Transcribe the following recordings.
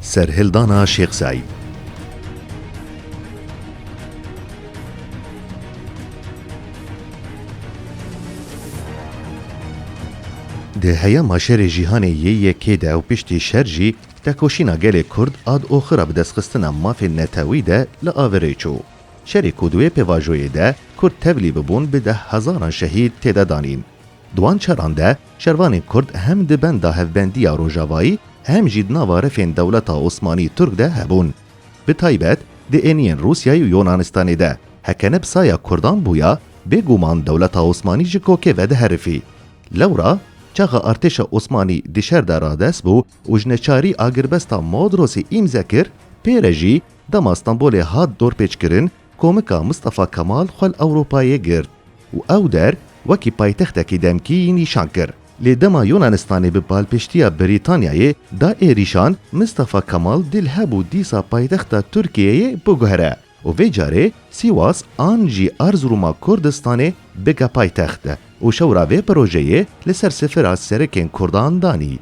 Serhildana Şêx Seîd. Di heyama şerê jîhanê yê yekê de û piştî şer jî tekoşîna gelê Kurd a di oxira bidestxistina mafên netewî de li averê çû. Şerê ku di wê pêvajoyê de Kurd tevlî bibûn bi dehhezaran şehîd tê de danîn. Di wan çaran de şervanên Kurd hem di benda hevbendiya rojavayî hem jî di nava refên dewleta Osmanî Turk de hebûn. Bi taybet di êniyên Rûsyayê û Yûnanistanê de heke ne bi saya Kurdan bûya, bêguman dewleta Osmanî ji kokê vediherifî. Lewra çaxa artêşa Osmanî di şer de radest bû û ji neçarî agirbesta Modrosê îmze kir, pê re jî dema Stenbolê hat dorpêçkirin, Komika Mistefa Kemal xwe li Ewropayê girt û ew der wekî paytextekî demkî yî nîşan kir. Lê dema Yûnanistanê bi balpiştiya Brîtanyayê da êrîşan, Mistefa Kemal dil hebû dîsa paytexta Tirkiyeyê biguhere û vê carê Sîwas an jî Erzirûma Kurdistanê bike paytext. û şewra vê projeyê li ser sifira serekên Kurdan danî.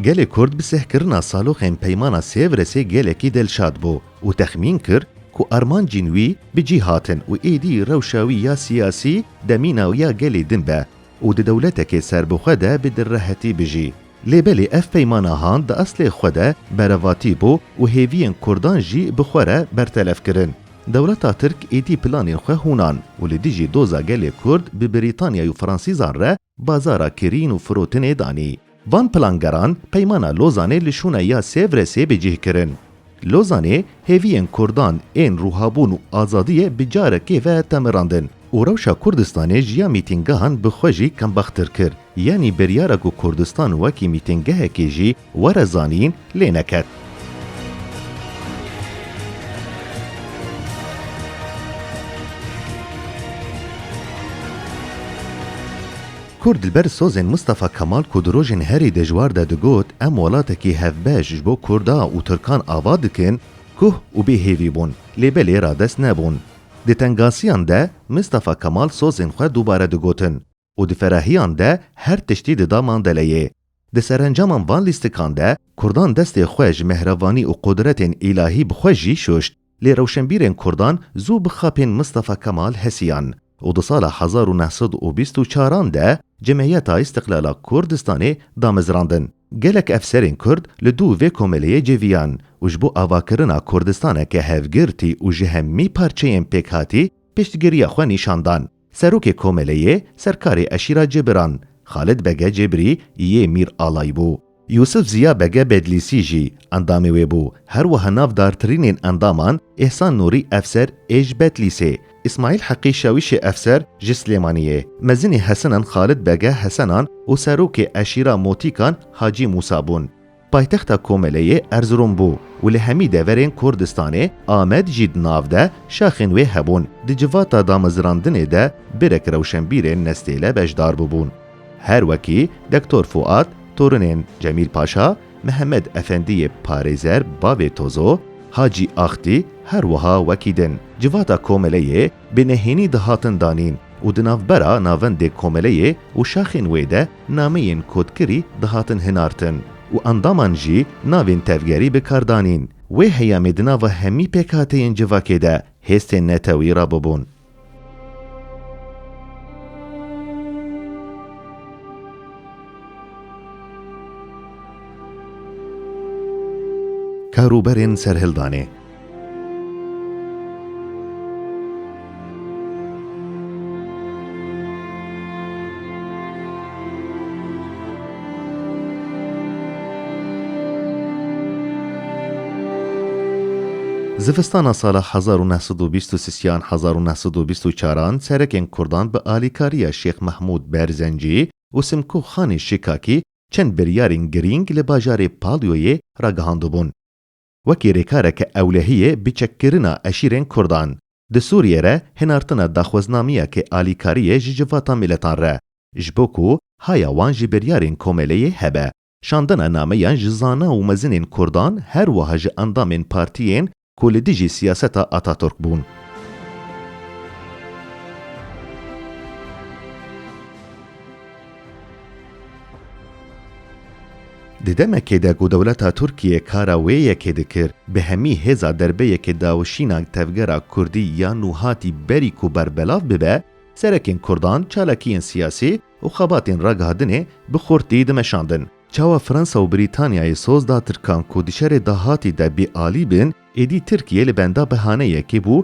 Gelê Kurd bi sehkirina saloxên Peymana Sêvresê gelekî dilşad bû û texmîn kir ku armancên wî bi cih hatin û êdî rewşa wî ya siyasî demîna ya gelê din be û di dewletekê serbixwe de bi direhetî bijî. Lê belê ev peymana han di eslê xwe de berevatî bû û hêviyên kurdan jî bi xwe re bertelef kirin. Dewleta Tirk êdî planên xwe hûnan û li dijî doza gelê Kurd bi Brîtanyayê û Fransîzan re bazara kirîn û firotinê danî. Van plangeran peymana Lozanê li şûna ya Sêvresê bi cih kirin. Lozanê hêviyên kurdan ên rûhabûn û azadiyê bi carekê ve temirandin û rewşa Kurdistanê ji ya mîtîngehan bi xwe jî kembextir kir. Yanî biryara ku Kurdistan wekî mîtîngehekê jî were zanîn lê neket. Kurd li ber sozên Mistefa Kemal ku di rojên herî dijwar de digot em welatekî hevbeş ji bo Kurda û Tirkan ava dikin, kuh û bê hêvî bûn lê belê radest nebûn. Di tengasiyan de Mistefa Kemal sozên xwe dubare digotin. û di ferahiyan de her tiştî dida mandeleyê. Di serencaman van lîstikan de kurdan destê xwe ji mehrevanî û qudretên îlahî bi xwe jî şuşt. Lê rewşenbîrên kurdan zû bixapîn Mistefa Kemal hesiyan û di sala hezar û neh sed û bîst û çar an de Cemeyeta Îstiqlala Kurdistanê damezrandin. Gelek efserên kurd li dû vê komeleyê cêviyan û ji bo avakirina Kurdistaneke hevgirtî û ji hemî parçeyên pêkhatî piştgiriya xwe nîşan dan. Serokê Komeleyê serkarê eşîra Cêbiran, Xalid Bege Cêbirî yê Mîr Alay bû. Yûsif Ziya Bege Bedlîsî jî endamê wê bû. Her wiha nav dartirînên endaman, Îhsan Nûrî Efser ê ji Bedlîsê, Îsmaîl Heqî Şawîşê Efser ji Silêmanî yê. Mezinê Hesenan Xalid Bege Hesenan û serokê eşîra Motîkan Hacî Mûsa bûn. Paytexta Komeleyê Erzirom bû û li hemî deverên Kurdistanê Amed jî di nav de şaxên wê hebûn. Di civata damezirandinê de birek rewşenbîrên nestêle beşdar bûbûn. Her wekî Dektor Fuat, torinên Cemîl Paşa, Mihemed Efendî yê parêzer bavê Tozo, Hacî Axtî her wiha wekî din. Civata Komeleyê bi nehênî dihatin danîn û di navbera navendê komeleyê û şaxên wê de nameyên kodkirî dihatin hinartin û endaman jî navên tevgerî bi kar danîn. Wê heyamê di nava hemî pêkhateyên civakê de hêstên netewî rabûbûn. Karûberên serhildanê. Zivistana sala hezar û neh sed û bîst û sih yan hezar û neh sed û bîst û çaran serekên kurdan bi alîkariya Şêx Mehmûd Berzencî û Simko Xanê Şikakî çend biryarên girîng li bajarê Palyoyê ragihandibûn. wekî rêkareke ewlehiyê bi çekkirina eşîrên kurdan di Sûriyê re hinartina daxweznameyekê alîkariyê ji civata miletan re ji bo ku haya wan ji biryarên komeleyê hebe. Şandina nameyan ji zana û mezinên kurdan her wiha ji endamên partiyên ku li dijî siyaseta Ataturk bûn. Di demekê de ku dewleta Tirkiyê kara wê yekê dikir, bi hemî hêza derbe yekê dawişîna tevgera kurdî ya nû hatî berî ku berbelav bibe, serekên kurdan çalakiyên siyasî û xebatên ragihandinê bi xurtî dimeşandin. Çawa Fransa û Brîtanyayê soz da tirkan ku di şerê dahatî de bêalî bin, êdî Tirkiye li benda behaneyekê bû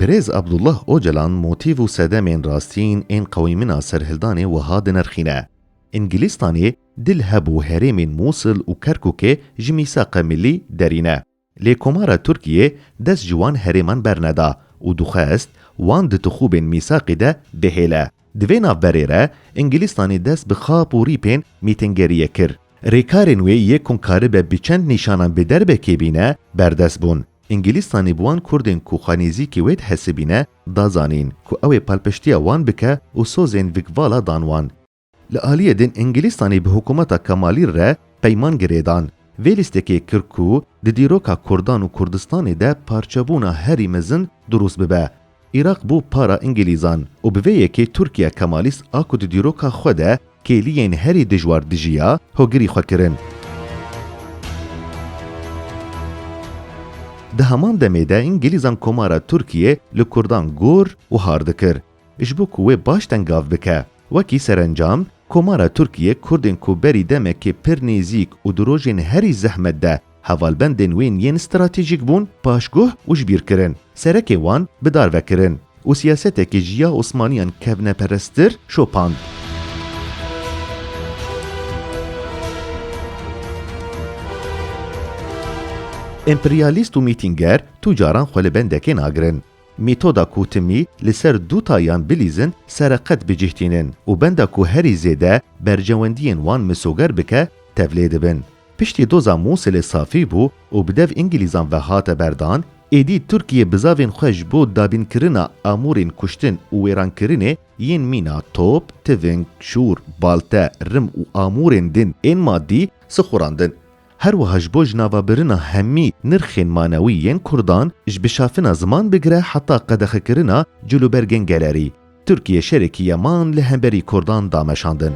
Birêz Abdullah Ocalan motîf û sedemên rastiyên ên qewîmina serhildanê wiha dinirxîne, Îngilîstanê di li heb û herêmên Mûsil û Kerkûkê ji mîsaqe millî derî ne. Lê Komara Tirkiyê dest ji wan herêman berneda û dixwest wan di tixûbên mîsaqê de bihêle. Di vê navberê re Îngilîstanê dest bi xap û rîpên mîtingeriyê kir. Rêkarên wê yê ku karibe bi çend nîşanan bi derbekê bîne, berdest bûn. Îngîlîstanê bi wan Kurdên ku xwe nêzîkî wê dihesibîne da zanîn ku ew ê palpiştiya wan bike û sozên Vikvala dan wan. Li aliyê din Îngîlîstanê bi hikûmeta Kemalî re peyman girêdan. Vê lîstekê kir ku di dîroka Kurdan û Kurdistanê de parçebûna herî mezin dirûst bibe. Îraq bû para Îngîlîzan û bi vê yekê Tirkiya Kemalîst a ku di dîroka xwe de kêliyên herî dijwar dijiya, hogirî xwe kirin. Di heman demê de Îngîlîzan Komara Tirkiyê li Kurdan gor û har dikir ji bo ku wê baş tengav bike. Wekî serencam, Komara Tirkiyê Kurdên ku berî demekê pir nêzîk û di rojên herî zehmet de Hevalbendên wên yên stratejîk bûn paşguh û jibîrkirin, serekê wan bi dar ve kirin û siyasetekê ji ya Osmaniyan kevneperestir şopand. Emperyalîst û mîtînger tu caran xwe li bendekê nagirin. Mîtoda ku timî li ser du tayan bilîzin sereqet bi cih tînin û benda ku herî zêde berjewendiyên wan misoger bike tevlê dibin. Piştî doza Mûsilê safî bû û bi dev Îngîlîzan ve hate berdan, êdî Tirkiyê bi zavên xwe ji bo dabînkirina amûrên kuştin û wêrankirinê yên mîna top, tiving, şûr, balte, rim û amûrên din ên maddî sixurandin. Her wiha ji bo ji navabirina hemî nirxên manewî yên kurdan, ji bişafina ziman bigire heta qedexekirina cûlûbergên gelerî, Tirkiye şerekî ye man li hemberî kurdan dameşandin.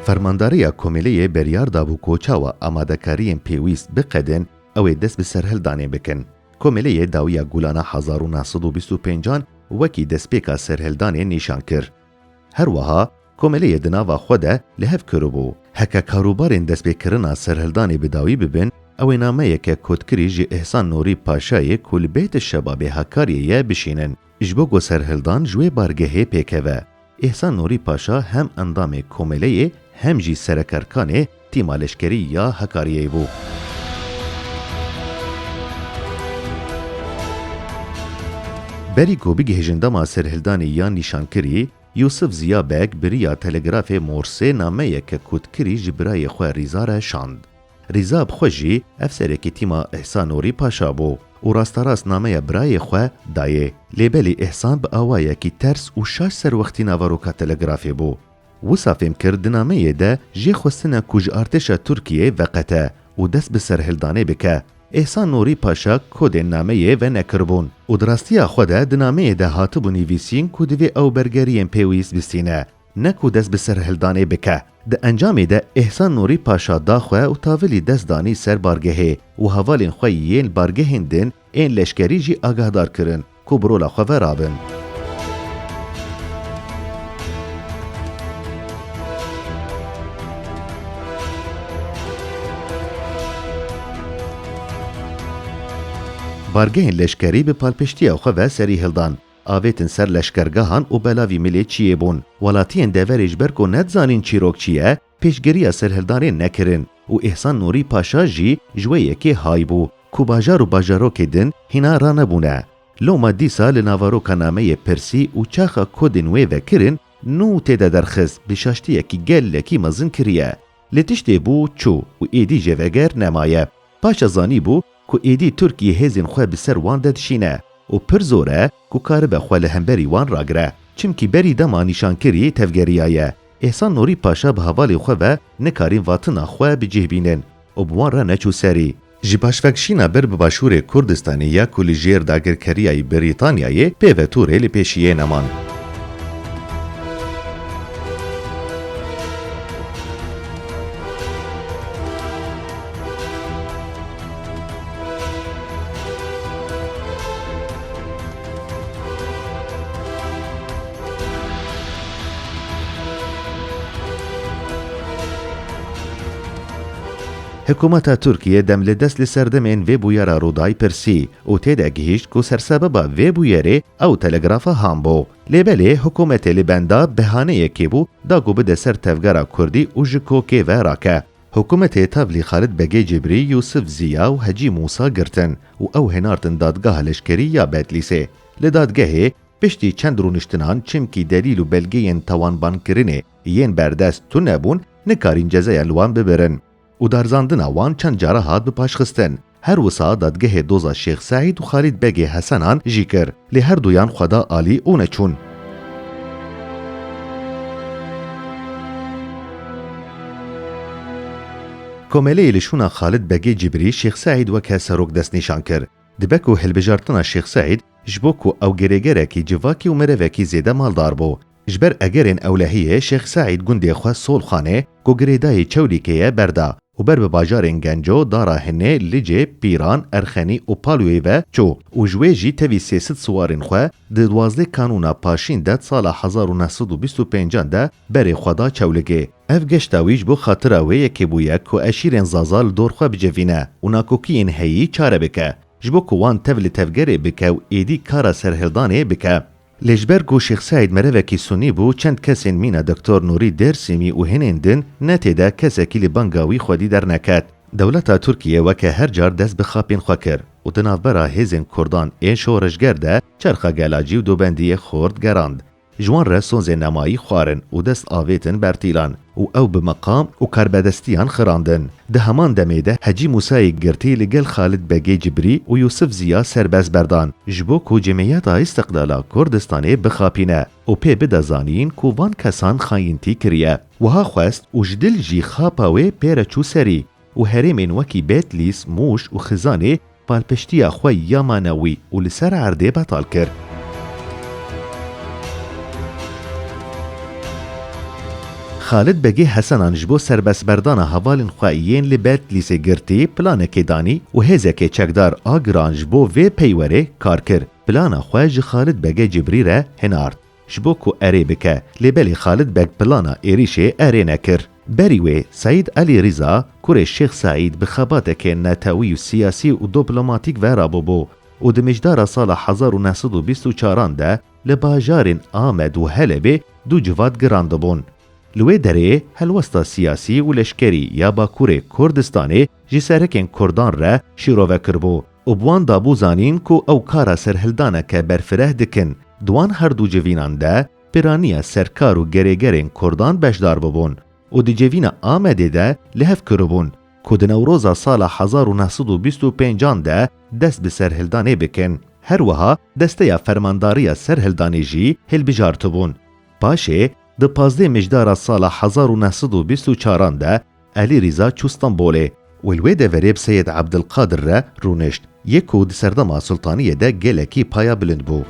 Fermandareya Komêleyê beryar dabû ku çawa amadekariyên pêwîst biqedin ew ê dest bi serhildanê bikin. Komêleyê dawiya Gulana hezar û neh sed û bîst û pêncan wekî destpêka serhildanê nîşan kir. Her wiha Komêleyê di nava xwe de li hev kiribû, heke karûbarên destpêkirina serhildanê bi dawî bibin, ew ê nameyeke kotkirî ji Îhsan Nûrî Paşayê ku li Bêt Şebabê Hakariyê ye bişînin, ji bo ku serhildan ji wê bargehê pêkeve. Îhsan Nûrî Paşa hem endamê Komêleyê hem jî serekerkanê Tîma Leşkerî ya Hekariyeyê bû. Berî ku bigihîjin dema serhildanê yan nîşankirî, Yûsif Ziya Beg bi riya telegrafê Morsê nameyeke kotkirî ji birayê xwe Rîza re şand. Rîza bi xwe jî ev serekê tîma Îhsan Nûrî Paşa bû û rasterast nameya birayê xwe dayê. Lê belê Îhsan bi awayekî ters û şaş ser wextî navaroka Telegrafê bû. Wisa fêm kir di nameyê de jê xwestine ku ji artêşa Tirkiyeyê veqete û dest bi serhildanê bike. Îhsan Nûrî Paşa kodên nameyê venekiribûn û di rastiya xwe de di nameyê de hatibû nivîsîn ku divê ew bergeriyên pêwîst bistîne. Ne ku dest bi serhildanê bike. Di encamê de Îhsan Nûrî Paşa da xwe û tavilî dest danî ser bargehê û hevalên xwe yên bargehên din ên leşkerî jî agahdar kirin ku bi rola xwe ve rabin. Bargehên leşkerî bi palpiştiya xwe ve serî hildan. Avêtin ser leşkergehan û belavî milê çiyê bûn. Welatiyên deverê ji ber ku nedizanîn çîrok çi ye, pêşgiriya serhildanê nekirin û Îhsan Nûrî Paşa jî ji wê yekê hay bû ku bajar û bajarokê din hîna ranebûne. Loma dîsa li navaroka nameyê pirsî û çaxa kodên wê vekirin nû tê de derxist bi şaştiyekî gelekî mezin kiriye. Lê tiştê bû çû û êdî jê veger nemaye. Paşa zanîbû ku êdî Tirkiyê hêzên xwe bi ser wan de dişîne û pir zor e ku karibe xwe li hemberî wan ragire. Çimkî berî dema nîşankirî tevgeriya ye. Îhsan Nûrî Paşa bi hevalên xwe ve nikarîn vatina xwe bi cih bînin û bi wan re neçû serî. Ji başvekişîna bir bi başûrê Kurdistanê ya ku li jêr dagirkeriyayî Brîtanyayê pê ve tûrê li pêşî yê neman. Hikûmeta Tirkiyê demlidest li ser demên vê bûyera Rûdayê pirsî û tê de gihîşt ku sersebeba vê bûyerê ew telegrafa Han bû. Lê belê hikûmetê li benda behaneyekê bû da ku bide ser tevgera Kurdî û ji kokê ve rake. Hikûmetê tevlî Xalid Begê Cîbrî, Yûsif Zîya û Hecî Mûsa girtin û ew hênartin dadgeha leşkerî ya Bedlîsê. Li dadgehê piştî çend rûniştinan çimkî delîl û belgeyên tawanbankirinê yên berdest tune bûn, nekarîn cezaya li wan bibirin û darzandina wan çend caran hat bi paşxistin. Her wisa dadgehê doza Şêx Seîd û Xalîd Begê Hesenan jî kir, lê her duyan xwe da alî û neçûn. Komeleyê li şûna Xalid Begê Cibrî Şêx Seîd weke serok destnîşan kir. Dibe ku hilbijartina Şêx Seîd ji bo ku ew girêgerekî civakî û mirevekî zêde maldar bû. Ji ber egerên ewlehiyê Şêx Seîd gundê xwe Solxanê ku girêdayî Çewlîgê ye berda û ber bi bajarên Genco, Dara Hinê, Licê, Pîran, Erxenî û Palwêy ve çû û ji wê jî tevî sê sid siwarên xwe di duwazdeh kanûna paşîn de di sala hezar û neh sed û bîst û pêncan de berê xwe da Çewlîgê. Ev geşta wî ji bo xatira wê yekê bûye ku eşîrên Zaza li dor xwe bicivîne û nakokiyên heyî çare bike ji bo ku wan tev li tevgerê bike û êdî kara serhildanê bike. Lê ji ber ku Şêx Seîd merevekî sunî bû, çend kesên mîna Doktor Nûrî Dêrsîmî û hênên din ne tê de kesekî li banga wî xwedî derneket. Dewleta Tirkiyê weke her car dest bi xapên xwe kir û di navbera hêzên kurdan ên şoreşger de çerxa gelacî û dobendiyê xort gerand. Ji wan re sozên nemayî xwarin û dest avêtin bertîlan. û ew bi meqam û karbedestiyan xirandin. Di heman demê de Hecî Musayê girtî li gel Xalid Begê Cibrî û Yûsif Ziya serbest berdan ji bo ku Cemîyeta Îstiqlala Kurdistanê bixapîne û pê bide zanîn ku van kesan xayintî kiriye. Wiha xwest û ji dil jî xapa wê pê re çû serî. û herêmên wekî Bedlîs, Mûş û Xizanê palpiştiya xwe ya manewî û li ser erdê betal kir. Xalid Begê Hesenan ji bo serbestberdana hevalên xwe yên li Bedlîsê girtî planekê danî û hêzekê çekdar a giran ji bo vê peywerê kar kir. Plana xwe ji Xalid Begê Cibrî re hinard. Ji bo ku erê bike. Lê belê Xalid Beg plana êrîşê erê nekir. Berî wê Seîd Elî Rîza, kurê Şêx Seîd bi xebatekê netewî û siyasî û doplomatîk ve ra bûbû û di mijdara sala hezar û neh sed û bîst û çaran de li bajarên Amed û Helebê du civat girandibûn. Li wê derê helwesta siyasî û leşkerî ya Bakurê Kurdistanê ji serekên Kurdan re şîrove kiribû. û bi wan dabû zanîn ku ew kara serhildaneke berfireh dikin. Di wan her du civînan de piraniya serkar û gerêgerên kurdan beşdar bûbûn û di civîna Amedê de li hev kiribûn ku di Newroza sala hezar û neh sed û bîst û pênc an de dest bi serhildanê bikin. Her wiha desteya fermandariya serhildanê jî hilbijartibûn. Paşê di pazdeh mijdara sala hezar û neh sed û bîst û çar an de Elî Rîza çû Stenbolê û li wê deverê bi Seyed Ebdilqadir re rûnişt, yek ku di serdema sultaniyê de gelekî paya bilind bû.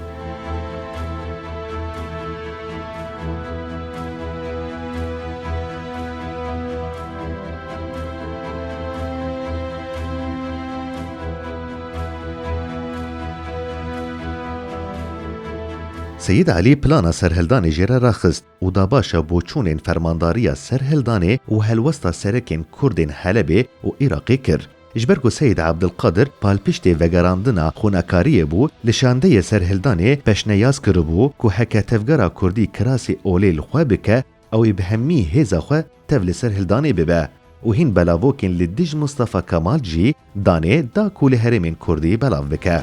Seyid Elî plana serhildanê jê re raxist. û da başa boçûnên Fermandariya Serhildanê û Helwesta Serekên Kurdên Helebê û Îraqê kir. Ji ber ku Seyîd Abdilqadir palpiştê vegerandina xwenakariyê bû, li şandeyê Serhildanê peşneyaz kiribû ku heke tevgera kurdî kirasê olê li xwe bike, ew ê bi hemî hêza xwe tev li ser hildanê bibe û hîn belavokên li dij Mistefa Kemal jî danê da ku li herêmên kurdî belav bike.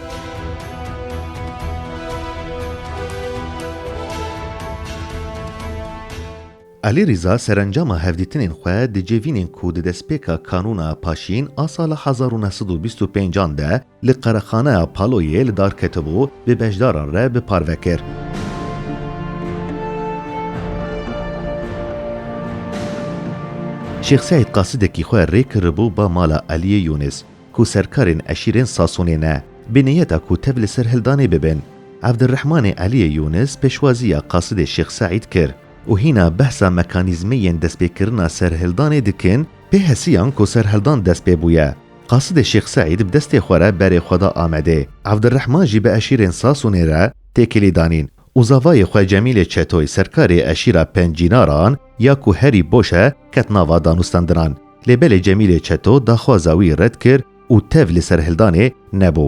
Elî Rîza serencama hevdîtinên xwe di civînên ku di destpêka Kanûna Paşîn a sala hezar û neh sed û bîst û pênc an de Li Qerexaneya Paloyê li dar ketibû, bi beşdaran re bi parve kir. Şêx Seîd qasidekî xwe rê kiribû ba mala Eliyê Yûnis, ku serkarên eşîrên Sasonê ne, bi niyeta ku tev li ser hildanê bibin. Evdirrehmanê Eliyê Yûnis pêşwaziya qasidê Şêx Seîd kir û hîna behsa mekanîzmeyên destpêkirina serhildanê dikin, pê hesiyan ku serhildan dest pê bûye. Qasidê Şêx Seîd bi destê xwe re berê xwe da Amedê, Evdirrehman jî bi eşîrên Sasûnê re têkilî danîn û zavayê xwe Cemîlê Çetoy serkarê eşîra Pencînaran ya ku herî boş e ket nava danûstendinan. Lê belê Cemîlê Çeto daxwaza wî red kir û tev li serhildanê nebû.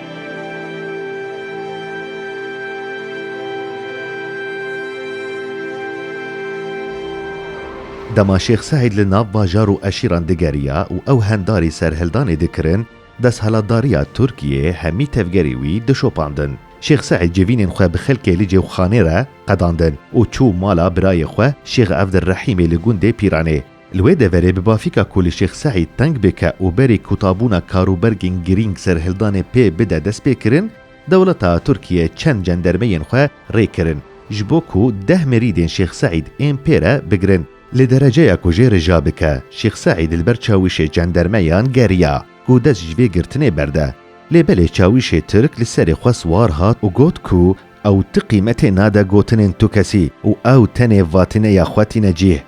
Dema Şêx Seîd li nav bajar û eşîran digeriya û ew hendarî serhildanê dikirin, desthilatdariya Tirkiyê hemî tevgerê wî dişopandin. Şêx Seîd civînên xwe bi xelkê li cewxanê re qedandin û çû mala birayê xwe Şêx Evdirehîmê li gundê Pîranê. Li wê deverê bi bafîka ku li Şêx Seîd teng bike û berê kotabûna karûbergên girîng serhildanê pê bide destpêkirin, dewleta Tirkiye çend cendermeyên xwe rê kirin ji bo ku deh mirîdên Şêx Seîd ên pê re bigirin. Li dereceya ku jê rija bike, Şêx Seîd li ber çawişê cendermeyan geriya ku dest ji vê girtinê berde. Lê belê çawişê Tirk li serê xwe siwar hat û got ku Ew ti qîmetê nade gotinên tu kesî û ew tenê vatîneya xwe tîne cîh.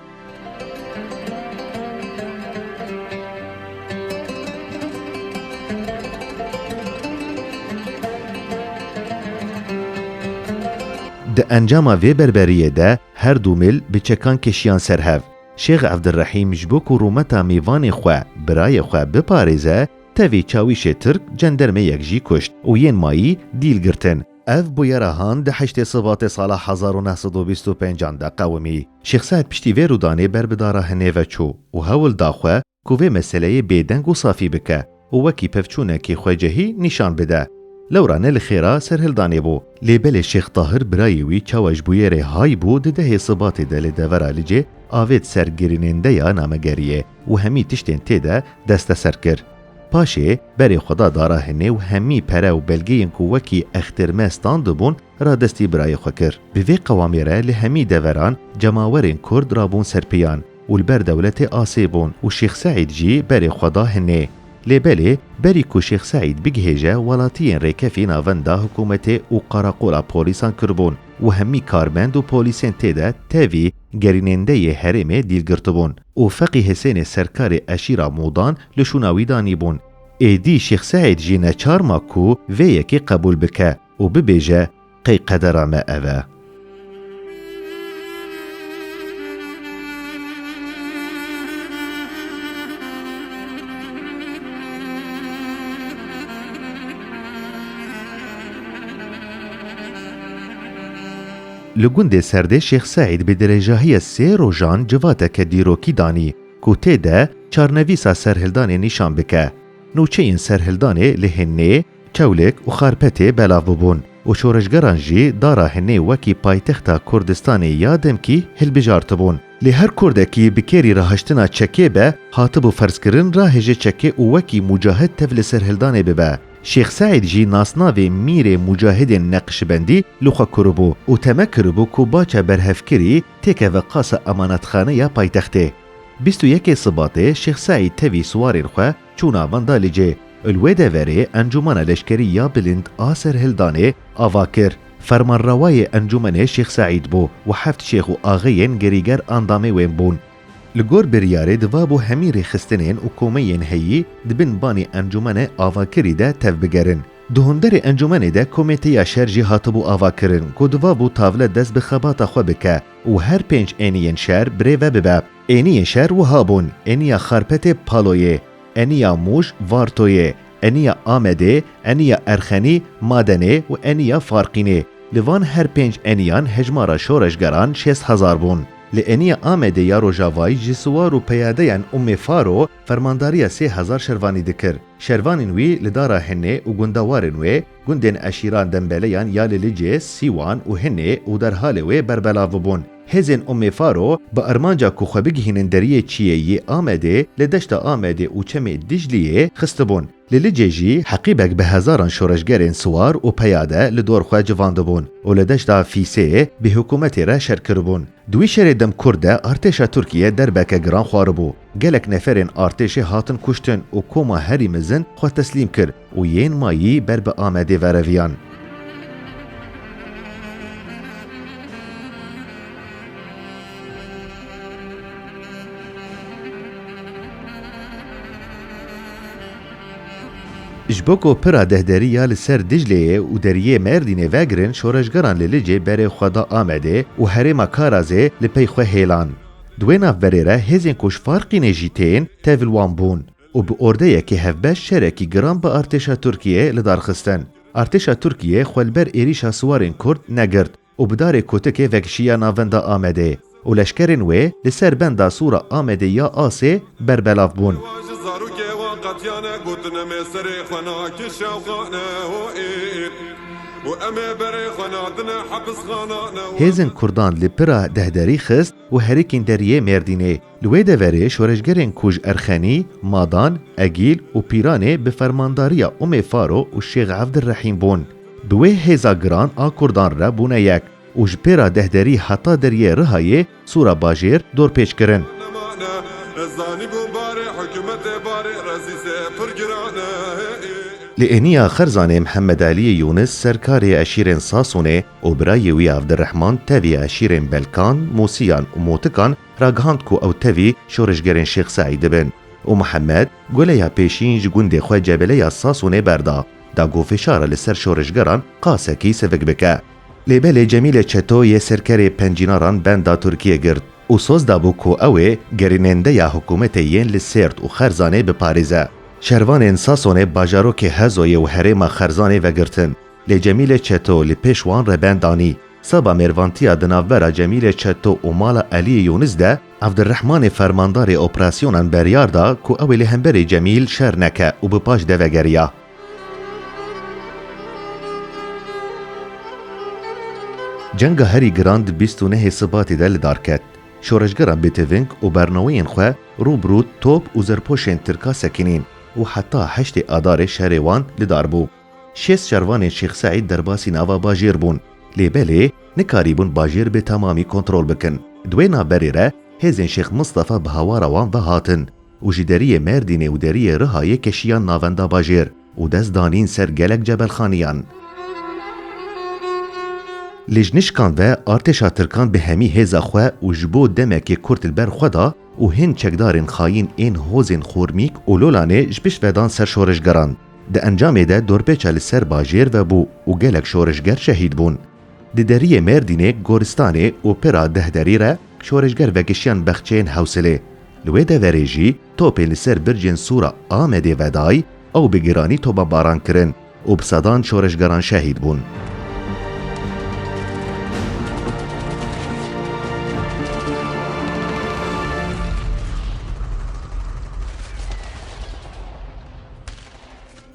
Di encama vê berberiyê de her du mil bi çekan keşiyan ser hev. Şêx Evdirehîm ji bo ku rûmeta mêvanê xwe, birayê xwe biparêze, tevî çawîşê Tirk cendermeyek jî kuşt û yên mayî dîl girtin. Ev bûyera han di heştê Sibatê sala hezar û neh sed û bîst û pênc an de qewimî. Şêx Seîd piştî vê rûdanê ber bi dara hinê ve çû û hewl da xwe ku vê meseleyê bêdeng û safî bike û wekî pevçûnekî xwecehî nîşan bide. Lewra ne li xêra serhildanê bû. Lê belê Şêx Tahir birayê wî çawa ji bûyerê hay bû di dehê Sibatê de li devera Licê avêt ser girînêndeya namegeriyê û hemî tiştên tê de desteser kir. Paşê berê xwe da dara hinê û hemî pere û belgeyên ku wekî extêrme standibûn radestî birayê xwe kir. Bi vê qewamê re li hemî deveran cemawerên Kurd rabûn ser pêyan û li ber dewletê asê bûn û Şêx Seîd jî berê xwe da hinê. Lê belê berî ku Şêx Seîd bigihêje welatiyên rêkefî navenda hikûmetê û qarakola polîsan kiribûn û hemî karmend û polîsên tê de tevî gerînêndeyê herêmê dîl girtibûn. û Feqî Hesênê serkarê eşîra Mûdan li şûna wî danîbûn. Êdî Şêx Seîd jî neçar ma ku vê yekê qebûl bike û bibêje qey qedera me ev e. Li gundê Serdê Şêx Seîd bi dirêjahiya sê rojan civateke dîrokî danî ku tê de çarnivîsa serhildanê nîşan bike. Nûçeyên serhildanê li Hinnê, Çewlik û Xarpetê belav bûbûn û şoreşgeran jî dara Hinnê wekî paytexta Kurdistanê ya demkî hilbijartibûn. Lê her Kurdekî bi kêrî re haştina çekê be hatibû ferzkirin rahêje çekê û wekî mûcahid tev li serhildanê bibe. Şêx Seîd jî nasnavê Mîrê Mûcahidên Neqşibendî li xwe kuribû û teme kiribû ku baca berhevkirî têkeve qasa emanetxane ya paytextê. Bîst û yekê Sibatê Şêx Seîd tevî siwarên xwe çû navan da li cê û li wê deverê Encûmena Leşkerî ya Bilind a Serhildanê ava kir. Fermanrawayê encûmenê Şêx Seîd bû û heft şêx û axeyên gerîger andamê wên bûn. Li gor biryarê divabû hemî rêxistinên û komeyên heyî di bin banê Encûmene Avakirî de tevbigerin. Di hundirê encûmenê de Komêteya Şer jî hatibû avakirin ku divabû tavle dest bi xebata xwe bike û her pênc êniyên şer birê ve bibe. Êniyên şer wiha bûn, Êniya Xarpetê Paloyê, Êniya Mûş Vartoyê, Êniya Amedê, Êniya Erxenî Madenê û Êniya Farqînê. Li van her pênc êniyan hejmara şoreşgeran şêst hezar bûn. Li eniya Amedê ya Rojavayî ji siwar û peyadeyên Ummê Faro fermandariya sê hezar şervanî dikir. Şervanên wî li dara Hinê û gundewarên wê, gundên eşîran Dembeleyan ya li Licê, Sîwan û Hinê û derhalê wê berbelav bûn. Hêzên Ummê Faro bi armanca ku xwe bigihînin deriyê çiyê yê Amedê li deşta Amedê û çemê Dicliyê xistibûn. Li Licê jî heqîbek bi hezaran şoreşgerên siwar û peyade li dor xwe civandibûn û li deşta Fîsêyê bi hikûmetê re şer kiribûn. Di wî şerê dem kurd de artêşa Tirkiyê derbeke giran xwaribû. Gelek neferên artêşê hatin kuştin û koma herî mezin xwe teslîm kir û yên mayî ber bi Amedê vereviyan. Ji bo ku pira dehderî ya li ser Dicleyê û deriyê Mêrdînê vegirin şoreşgeran li Licê berê xwe da Amedê û herêma Karazê li pey xwe hêlan. Di wê navberê re hêzên ku ji Farqînê jî tên tevl wan bûn û bi ordeyekî hevbeş şerekî giran bi artêşa Tirkiyê lidarxistin. Artêşa Tirkiyê xwe li ber êrîşa siwarên Kurd negirt. û bi darê kotikê vekişiya navenda Amedê û leşkerên wê li ser benda sor a Amedê ya Asê berbelav bûn. Hewa ji zarokê wan qetiyane gotin em ê serê xwe nake şewxane hoêr û em ê berê xwe natine hepisxana. Hêzên Kurdan li pira dehderî xist û herikîn deriyê Mêrdînê. Li wê deverê şoreşgerên ku ji Erxenî, Madan, Egîl û Pîranê bi fermandariya Umê Faro û Şêx Evdirehîm bûn, bi wê hêza giran a Kurdan re bûne yek û ji pêra Dehderî heta deriyê Rihayê, Sûra Bajêr, dorpêç kirin. Li Êniya Xerzanê Mihemmedeliyê Yûnis serkarê eşîrên Sasûnê û birayê wî Evdirehman tevî eşîrên Belkan, Mûsiyan û Motikan ragihand ku ew tevî şoreşgerên Şêx Seîdê bin û Mihemed Gule ya pêşîn ji gundê xwe Cebele ya Sasûnê berda da ku fişara li ser şoreşgeran qasekî sivik bike. Lê belê Cemîle Çeto yê serkerê Pencînaran benda Tirkiyê girt û soz dabû ku ew ê gerînendeya hikûmetê yên li Sêrt û Xerzanê biparêze. Şervanên Sasûnê bajarokê Hezoyê û herêma Xerzanê vegirtin. Lê Cemîlê Çeto li pêş wan re ben danî. Seba mêrvantiya di navbera Cemîlê Çeto û mala Eliyê Yûnis de Evdirehmanê fermandarê operasyonan beryar da ku ew ê li hemberê Cemîl şer neke û bi paş de vegeriya. Cenga herî giran di bîst û nehê Sibatê de li dar ket. Şoreşgeran bêteving û bernaweyên xwe rû bi rû top û zerpoşên Tirka sekinîn û heta heştê Adarê şerê wan li dar bû. Şêst şervanên Şêx Seîd derbasî nava bajêr bûn, lê belê nikarîbûn bajêr bi temamî kontrol bikin. Di wê navberê re hêzên Şêx Mistefa bi hawara wan ve hatin û ji deriyê Mêrdînê û deriyê Rihayê keşiyan navenda bajêr û dest danîn ser gelek cebelxaniyan. Lê ji nişkan ve artêşa tirkan bi hemî hêza xwe û ji bo demekê kurt li ber xwe da û hên çekdarên xayîn ên hozên Xormîk û Lolanê ji pişt ve dan ser şoreşgeran. Di encamê de dorpêça li ser bajêr vebû û gelek şoreşger şehîd bûn. Di deriyê Mêrdînê, Goristanê û pira deh derî re şoreşger vekişiyan bexçeyên Hewsilê. Li wê deverê jî topên li ser bircên sor a Amedê vedayî ew bi giranî tobebaran kirin û bi sedan şoreşgeran şehîd bûn.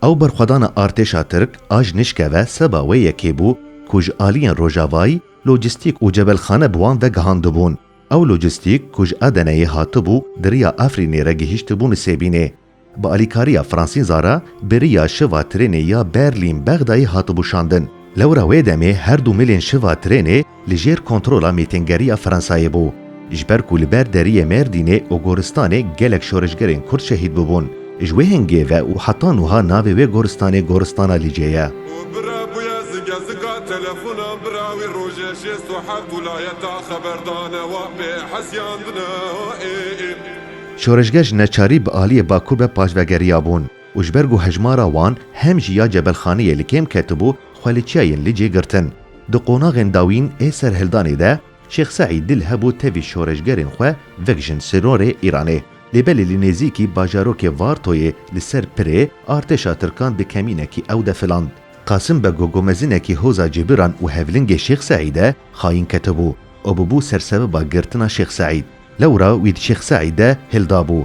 Ew berxwedana artêşa Tirk a ji nişke ve seba wê yekê bû ku ji aliyên rojavayî lojîstîk û cebelxane bi wan ve gihandibûn. Ew lojîstîk ku ji Edeneyê hatibû di riya Efrînê re gihîştibû Nisêbînê. Bi alîkariya Fransîn Zara bi riya şiva trênê ya Berlîn-Bexdayê hatibû şandin. Lewra wê demê her du milên şiva trênê li jêr kontrola mîtîngeriya Fransayê bû, ji ber ku li ber deriyê Mêrdînê û Goristanê gelek şoreşgerên Kurd şehîd bûbûn. Ji wê hingê ve û heta nuha navê wê goristanê Goristana Lîcê ye. û bira bûye zike zika telefona bira wî rojê şêst û heft wilayeta xeberdane wa pê hesyandine ê. Şoreşger ji neçarî bi aliyê Bakur ve paş vegeriyabûn û ji ber ku hejmara wan hem jî ya Cebelxaniyê li kêm ketibû xwe li çiyayên Lîcê girtin Di qonaxên dawîn ê serhildanê de Şêx Seîd dil hebû tevî şoreşgerên xwe vekijin sînorê Îranê. Lê belê li nêzîkî bajarokê Vartoyê li ser pirê artêşa tirkan di kemînekî ew de filand. Qasim Bego gomezinekî hoza Cêbiran û hevlingê Şêx Seîdê xayîn ketibû û bûbû sersebeba girtina Şêx Seîd. Lewra wî di Şêx Seîdê hildabû.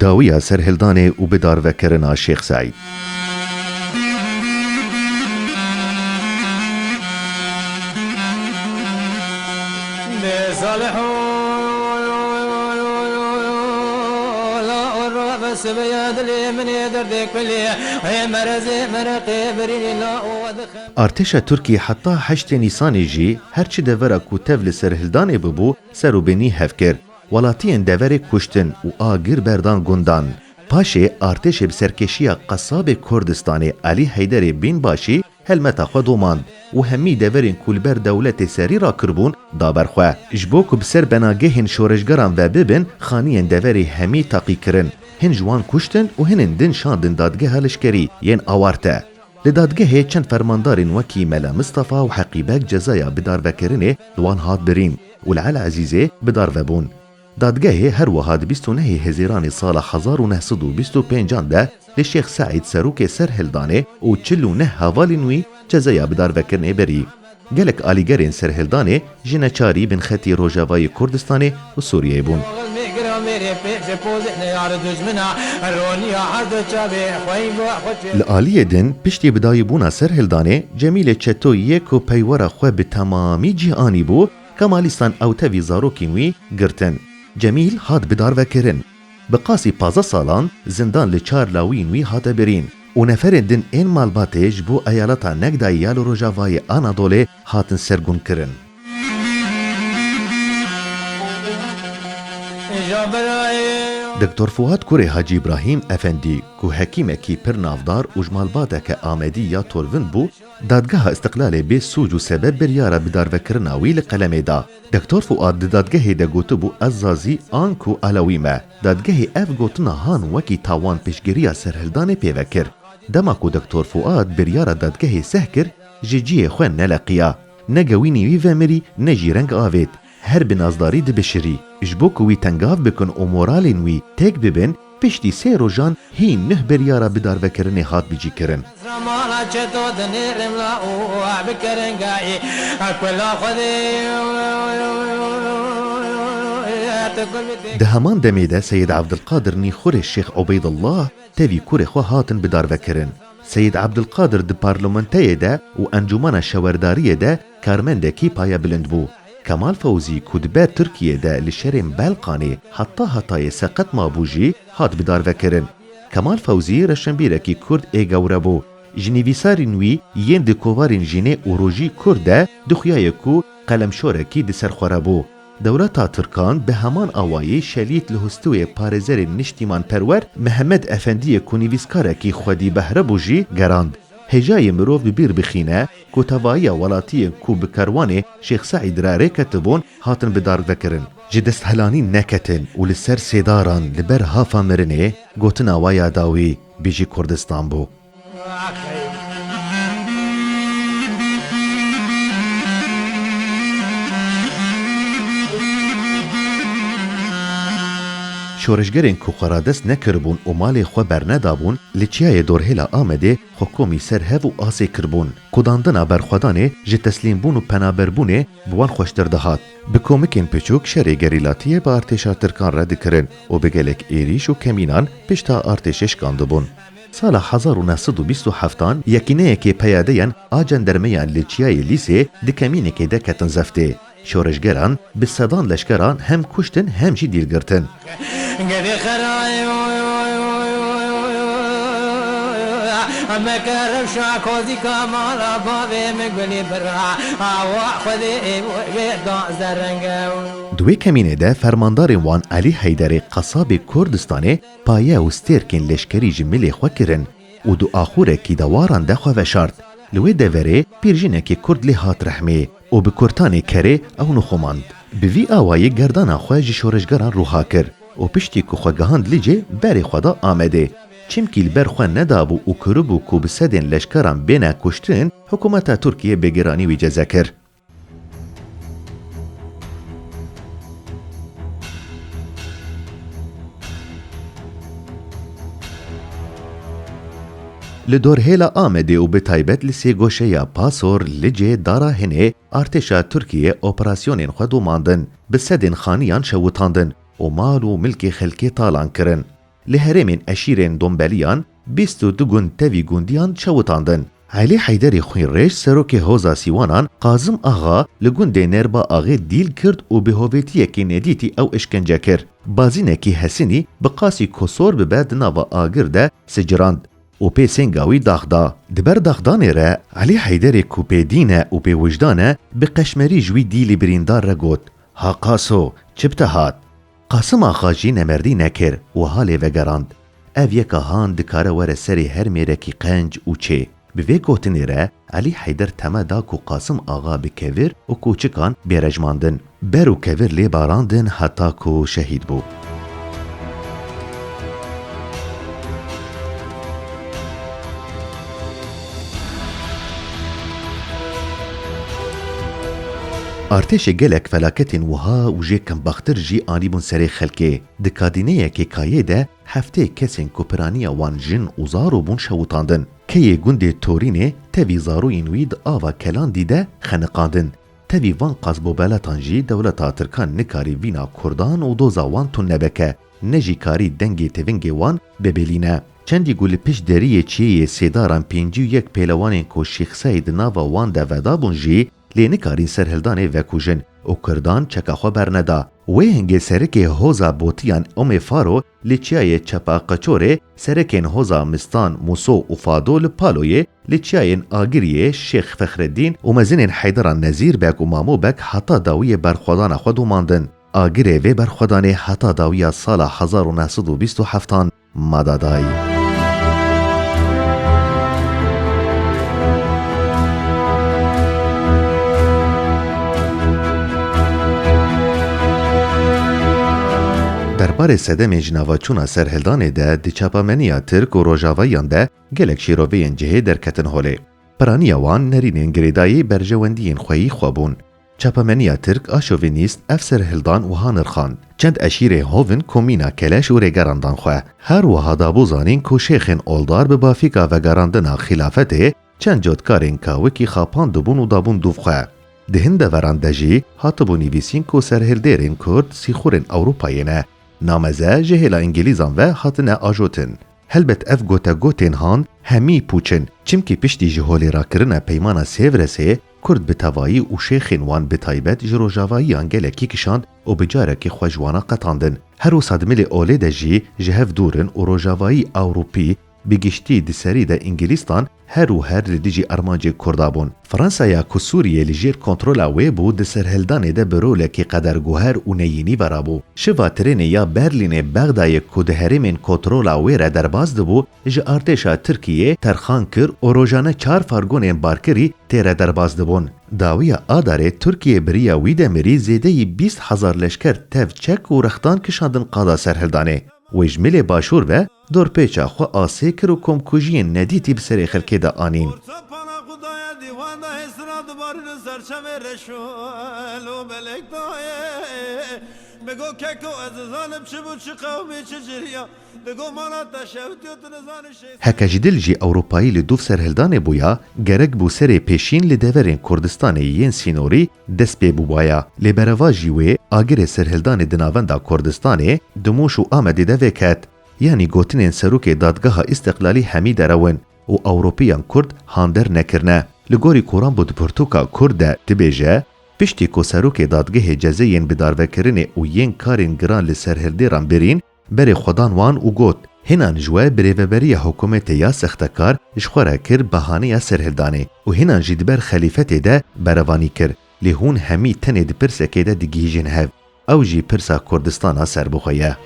Dawiya serhildanê û bi darvekirina Şêx Seîd. Artêşa Tirkî heta heştê Nîsanê jî her çi devera ku tev li serhildanê bûbû ser û bênî hev kir. Welatiyên deverê kuştin û agir berdan gundan. Paşê artêşê bi serkêşiya qesabê Kurdistanê Elî Heyderê Bînbaşî helmeta xwe domand û hemî deverên ku li ber dewletê serî rakiribûn da ber xwe. Ji bo ku bi ser benagehên şoreşgeran ve bibin, xaniyên deverê hemî taqî kirin. Hin ji wan kuştin û hinên din şandin dadgeha leşkerî yên awarte. Li dadgehê çend fermandarên wekî Mela Mistafa û Heqî Beg cezaya bidarvekirinê li wan hat birîn û li El Ezîzê bidarve bûn. Dadgehê her wiha di bîst û nehê Hezîranê sala hezar û neh sed û bîst û pênc an de li Şêx Seîd Serokê serhildanê û çil û neh hevalên wî cezaya bidarvekirinê birî. Gelek alîgerên serhildanê ji neçarî bin xetî Rojavayê Kurdistanê û Sûriyeyê bûn. Li aliyê din piştî bidayîbûna serhildanê Cemîlê Çeto yê ku peywera xwe bi temamî cih anîbû, Kemalîstan ew tevî zarokên wî girtin. Cemîl hat bidarvekirin. Bi qasî pazdeh salan zindan li çar lawiyên wî hate birîn û neferên din ên malbatê ji bo eyaleta Negdayê ya li rojavayê Anadolê hatin sergûnkirin. Doktor Fuat kurê Hacî Îbrahîm Efendî ku hekîmekî pir navdar û ji malbateke Amedî ya Torvin bû, Dadgeha Îstiqlalê bê sûc û sebeb biryara bidarvekirina wî li qelemê da. Doktor Fuad di dadgehê de gotibû ez Zazî an ku Alawî me. Dadgehê ev gotina han wekî tawan piştgiriya serhildanê pê ve kir. Dema ku Doktor Fuad biryara dadgehê seh kir ji cihê xwe neleqiya. Ne gewînî wî vemirî ne jî reng avêt. Her bi nazdarî dibişirî. Ji bo ku wî tengav bikin û moralên wî têk bibin, Piştî sê rojan hî nuh biryara bidarvekirinê hat bicîkirin. Di heman demê de Seyid Evdilqadir nî xurê Şêx Ubeydillah tevî kurê xwe hatin bidarvekirin. Seyid Evdilqadir di parlementeyê de û encûmena şewerdariyê de, Karmendekî paye bilind bû. Kemal Fewzî ku dibe Tirkiyê de li şerên Belqanê heta hetayê seqet mabû jî hat bidarvekirin. Kemal Fewzî reşenbîrekî Kurd ê gewre bû. Ji nivîsarên wî yên di kovarên Jinê û Rojî Kurd de dixuyaye ku qelemşorekî di ser xwe re bû. Dewleta Tirkan bi heman awayî şelît li hustûyê parêzerên niştîmanperwer Mihemed Efendiyê ku nivîskarekî xwedî behre bû jî gerand. Hêjayê mirov bi bîr bixîne ku tevahiya welatiyên ku bi kerwanê Şêx Seîd re rê ketibûn hatin bidarvekirin, ji desthilanîn neketin û li ser sêdaran li ber hafa mirinê gotina wa ya dawî Bijî Kurdistan bû. Şoreşgerên ku xwe radest nekiribûn û malê xwe bernedabûn, li Çiyayê Dorhêla Amedê, Xwe komî ser hev û asê kiribûn. Kudandina berxwedanê ji teslîmbûn û penaberbûnê bi wan xweştir dihat. Bi komikên piçûk şerê gerîlatiyê bi artêşa tirkan re dikirin û bi gelek êrîş û kemînan pişta artêşê şikandibûn. Sala hezar û neh sed û bîst û heftan yekîneyekê peyadeyan a cendermeyan li Çiyayê Lîsê di kemînekê de ketin zeftê. Şoreşgeran bi sedan leşkeran hem kuştin hem jî dîl girtin. Di wê kemînê de fermandarên wan Elî Heyderê qesabê Kurdistanê paye û stêrkên leşkerî ji milê xwe kirin û di axûrekî de waran de xwe veşart. Li wê deverê pîrjinekê Kurd lê hat rehmê. û bi kurtanê kerê ew nixomand. Bi vî awayî gerdana xwe ji şoreşgeran ruha kir û piştî ku xwe gihand Licê berê xwe da Amedê. Çimkî li ber xwe nedabû û kiribû ku bi sedên leşkeran bêne kuştin, hikumeta Tirkiyê bêgiranî wî ceze kir. Li dorhêla Amedê û bi taybet li sêgoşeya Pasor, Licê, Dara Hinê artêşa Tirkiyê operasyonên xwe domandin, bi sedên xaniyan şewitandin û mal û milkê xelkê talan kirin. Li herêmên eşîrên Dombeliyan bîst û du gund tevî gundiyan şewitandin. Elî Heyderê Xwînrêj serokê Hoza Sîwanan Qazim Axa li gundê Nêrba Axê dîl kird û bi hovêtiyekî nedîtî ew işkence kir. Bazînekî Hesinî bi qasî ku sor bibe di nava agir de Sicirand û pê sênga wî dax da. Di ber daxdanê re Elî Heyderê ku pê dîn e û pê wijdan e bi qeşmerî ji wî dîlî birîndar re got, Ha Qaso, çi bi te hat? Qasim Axa jî nemerdî nekir wiha lê vegerand, Ev yeka han dikare were serê her mêrekî qenc û çê. Bi vê gotinê re Elî Heyder teme da ku Qasim Axa bi kevir û kûçikan bê rejmandin. Ber û kevir lê barandin heta ku şehîd bû. Artêşê gelek felaketên wiha û jê kembaxtir jî anîbûn serê xelkê. Di kadîneyekê kayê de Heftê kesên ku piraniya wan jin û zaro bûn şewitandin. Keyê gundê Torînê tevî zaroyên wî di ava Kelandî de xeniqandin. Tevî van qasbobeletan jî dewleta tirkan nikarî vîna kurdan û doza wan tund nebike, ne jî karî dengê tevingê wan bibêlîne. Çendî ku li pişt deriyê çiyê yê Sêdaran pêncî û yek pêlewanên ku Şîx Seîd di nava wan de vedabûn jî Lê nikarîn serhildanê vekujin û kurdan çeka xwe berneda. Wê hingê serikê hoza botiyan Umê Faro li çiyayê Çepa Qeçorê, serekên hoza Mistan, Muso û Fado li Paloyê, li çiyayên Agiriyê, Şêx Fexreddîn û mezinên Heyderan Nezîr Beg û Mamo Beg heta dawiyê berxwedana xwe domandin. Agirê vê berxwedanê heta dawiya sala hezar û neh sed û bîst û heft an. Madadayî. Derbarê sedemên ji navaçûna serhildanê de di çapameniya Tirk û Rojavayiyan de gelek şîroveyên cihê derketin holê. Piraniya wan nerînên girêdayî berjewendiyên xweyî xwe bûn. Çapemeniya Tirk a şovînîst ev serhildan wiha nirxand, Çend eşîrê hovin komîna keleş û rêgeran dan xwe. Her wiha dabû zanîn ku şêxên oldar bi bafîka vegerandina xîlafetê çend cotkarên kawikî xapandibûn û dabûn dûv xwe. Di hin deveran de jî hatibû nivîsîn ku serhildêrên Kurd sîxurên Ewropayê ne. Nameze ji hêla Îngîlîzan ve hatine ajotin. Helbet ev gotegotên han hemî pûç in, çimkî piştî ji holê rakirina Peymana Sêvresê, Kurd bi tevayî û şêxên wan bi taybet ji rojavayiyan gelekî kişand û bi carekî xwe ji wana qetandin. Her wiha di milê olê de jî ji hev dûr in û rojavayî, ewropî, bi giştî, di serî de îngîlîstan her û her li dijî armancên Kurda bûn. Fransaya ku Sûriyê li jêr kontrola wê bû di serhildanê de bi rolekî qeder guher û neyînî vera bû. Şiva trênê ya Berlînê Bexdayê ku di herêmên kotrola wê re derbas dibû ji artêşa Tirkiyê terxan kir û rojane çar fargonên barkirî tê re derbas dibûn. Dawiya Adarê Tirkiyê bi riya wî demirî zêdeyî bîst hezar leşker tev çek û rextan kişandin qada serhildanê. Wê ji milê başûr ve dorpêça xwe asê kir û komkujiyên nedîtî bi serê xelkê de anîn. Heke ji dil jî Ewropayî li dûv serhildanê bûya, gerek bû serê pêşîn li deverên Kurdistanê yên sînorî dest pê bûbaya. Lê berevajî wê agirê serhildanê di navenda Kurdistanê, Dimûş û Amedê de vêket. Yanî gotinên serokê Dadgeha Îstiqlalî hemî derew in û Ewropîyan Kurd hander nekirine. Li gorî Koran Bûd Pirtûka Kurd de dibêje, Piştî ku serokê dadgehê cezeyên bidarvekirinê û yên karên giran li serhildêran birîn, Berê xwe dan wan û got, Hênan ji we birêveberiya hikûmetê ya sextekar ji xwe re kir bahaneya serhildanê û hênan jî di ber xelîfetê de berevanî kir, lê hûn hemî tenê di pirsekê de digihîjin hev, ew jî pirsa Kurdistana serbixwe ye.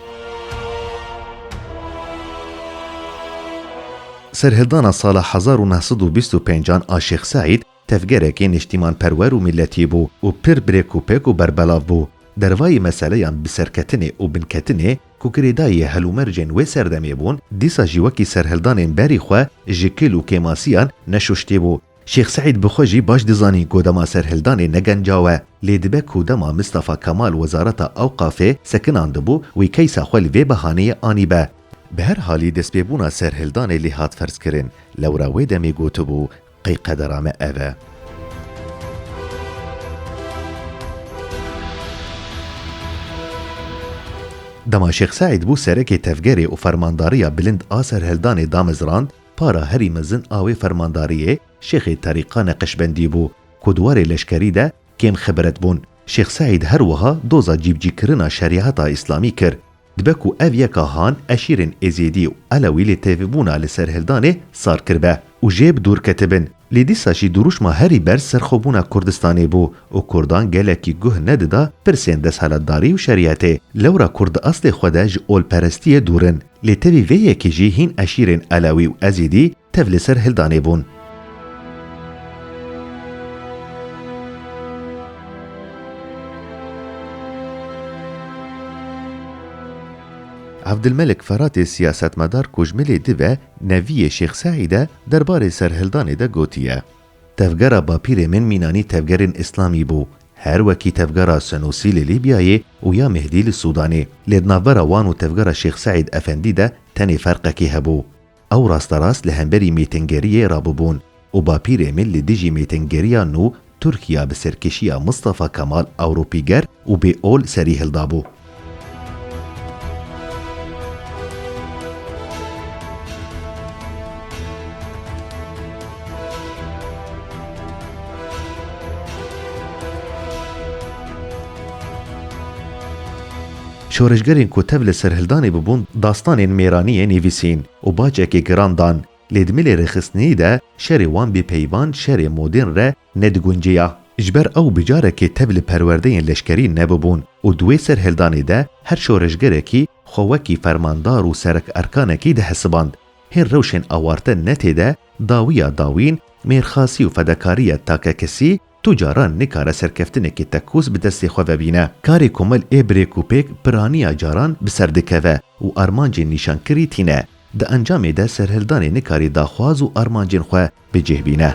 Serhildana sala hezar û neh sed û bîst û pênc an a Şêx Seîd Tevgerekî niştîmanperwer û mîletî bû û pir birêkûpêk û berbelav bû. Dervayî meseleyan bi serketinê û binketinê ku girêdayî helûmercên wê serdemê bûn, dîsa jî wekî serhildanên berî xwe ji kil û kêmasiyan neşuştî bû. Şêx Seîd bi xwe jî baş dizanî ku dema serhildanê ne gencaw e. Lê dibe ku dema Mistafa Kemal wezareta Ewqafê sekinandibû, wî keysa xwe li vê behaneyê anîbe. Bi her halî destpêbûna serhildanê lê hat ferzkirin. Lewra wê demê gotibû, Qey qedera me ev e? Dema Şêx Seîd bû serekê tevgerê û fermandariya bilind a serhildanê damezrand, para herî mezin a wê fermandariyê Şêxê Terîka Neqeşbendî bû, ku di warê leşkerî de kêm xibret bûn. Şêx Seîd her wiha doza cîbicîkirina şerîeta îslamî kir, Dibe ku ev yeka han eşîrên Êzîdî û Elewî lê tevîbûna li serhildanê sar kiribe û jê bi dûr ketibin. Lê dîsa jî dirûşma herî berz serxwebûna Kurdistanê bû û Kurdan gelekî guh nedida pirsên desthilatdarî û şerîetê. Lewra Kurd di eslê xwe de ji olperestiyê dûr in. Lê tevî vê yekê jî hîn eşîrên Elewî û Ezîdî Tev li ser hildanê bûn. Evdilmelik Feratê siyasetmedar ku ji milê div e, neviyê Şêx Seîd e, der barê serhildanê de gotiye, Tevgera bapîrê min mînanî tevgerên îslamî bû, her wekî tevgera Senûsî li Lîbyayê û ya Mehdî li Sûdanê. Lê di navbera wan û tevgera Şêx Seîd Efendî de tenê ferqekî hebû. Ew rasterast li hemberî mêtingeriyê rabûbûn û Bapîrê min li dijî mêtingeriya nû Tirkiya bi serkişiya Mistafa Kemal Ewropîger û bê ol serî hildabû. Şoreşgerên ku tev li serhildanê bûbûn dastanên mêraniyê nivîsîn û bacekê giran dan, lê di milê rêxistinî de şerê wan bê peyvan şerê modên re nedigunceya. Ji ber ew bi carekê tev li perwerdeyên leşkerî nebûbûn û di wê serhildanê de her şoreşgerekî xwe wekî fermandar û serek erkanekî dihesiband. Hên rewşên awarte netê de dawiya dawîn mêrxasî û fedakariya takekesî, Tu caran nikare serkeftinekê tekûz bi destê xwe vebîne. Karê komel ê birêk û pêk piraniya caran bi ser dikeve û armancên nîşankirî tîne. Di encamê de serhildanê nikarî daxwaz û armancên xwe bi cih bîne.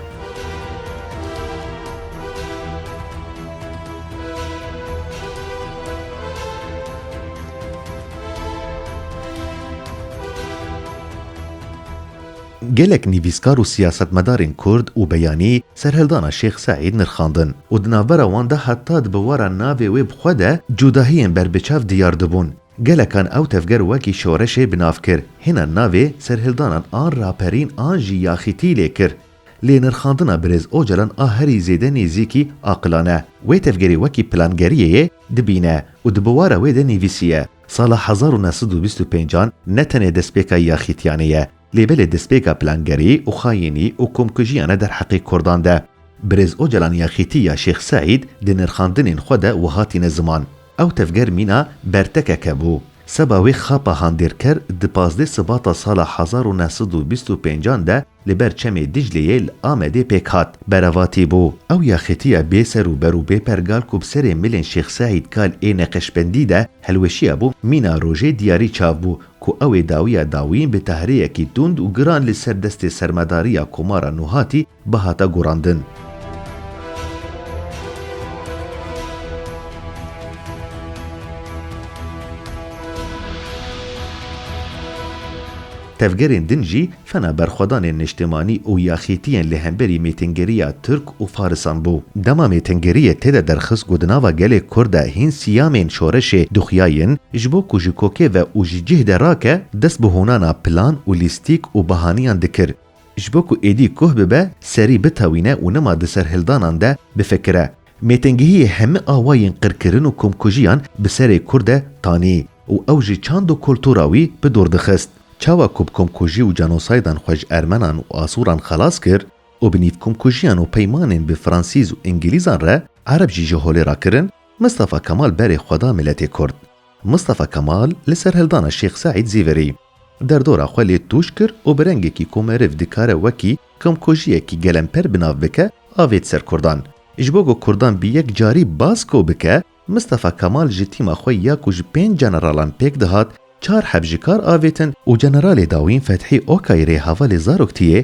Gelek nivîskar û siyasetmedarên kurd û beyanî serhildana Şêx Seîd nirxandin û di navbera wan de heta di bûwara navê wê bi xwe de cudahiyên berbiçav diyar dibûn. Gelekan ew tevger wekî şoreşê bi nav kir, hêna navê serhildanan an raperîn an jî yaxîtî lê kir. Lê nirxandina birêz Ocalan a herî zêde nêzîkî aqilane. Wê tevgerê wekî plangeriyê yê dibîne û di bûwara wê de nivîsiye, Sala hezar û neh sed û bîst û pênc an ne tenê destpêka yaxîtiyanê ye, Lê belê destpêka plangerî û xayînî û komkujiya ne derheqê kurdan de. Birêz Ocalan ya xîtî ya Şêx Seîd di nirxandinên xwe de wiha tîne ziman, Ew tevger mîna bertekeke bû. Seba wê xapa handêrker di pazdeh Sibata sala hezar û neh sed û bîst û pênc an de li ber çemê Dicleyê li Amedê pêk hat. Berevatî bû. Ew ya xîtî ya bê ser û ber û bê pergal ku bi serê milên Şêx Seîd kal ê neqeşbendî de hilweşiya bû mîna rojê diyarî çav bû ku ew ê dawiya dawî bi tahrêyekî tund û giran li ser destê sermadariya Komara Nuhatî bihata gorandin. Tevgerên din jî Fena berxwedanên niştimanî û yaxîtiyên li hemberî mêtingeriya Tirk û Farisan bû. Dema mêtingeriyê tê de derxist ku di nava gelê Kurd de hîn siyamên şoreşê dixuyayin, ji bo ku ji kokê ve û ji cih de rake, dest bi hûnana plan û lîstîk û bahaniyan dikir, ji bo ku êdî koh bibe, serî bitewîne û nima di serhildanan de bifikire. Mêtingihiyê hemî awayên qirkirin û komkujiyan bi serê Kurd de tanî û ew jî çand û kultura wî bi dûr dixist. Çawa ku bi komkujî û cenosaydan xwe ji Ermenan û Asûran xelas kir û bi nîv komkujiyan û peymanên bi Fransîz û Îngilîzan re Ereb jî ji holê re kirin, Mistafa Kemal berê xwe da miletê Kurd. Mistafa Kemal li serhildana Şêx Seîd zî verî. Derdora xwe lê tûj kir û bi rengekî ku meriv dikare wekî komkujiyekî gelemper bi nav bike, avêt ser Kurdan. Ji bo ku Kurdan bi yek carî baz ko bike, Mistefa Kemal ji tîma xwe ya ku ji pênc jeneralan pêk dihat, çar heb ji kar avêtin û jeneralê dawîn Fethî Okay rê hevalê Zaroktiê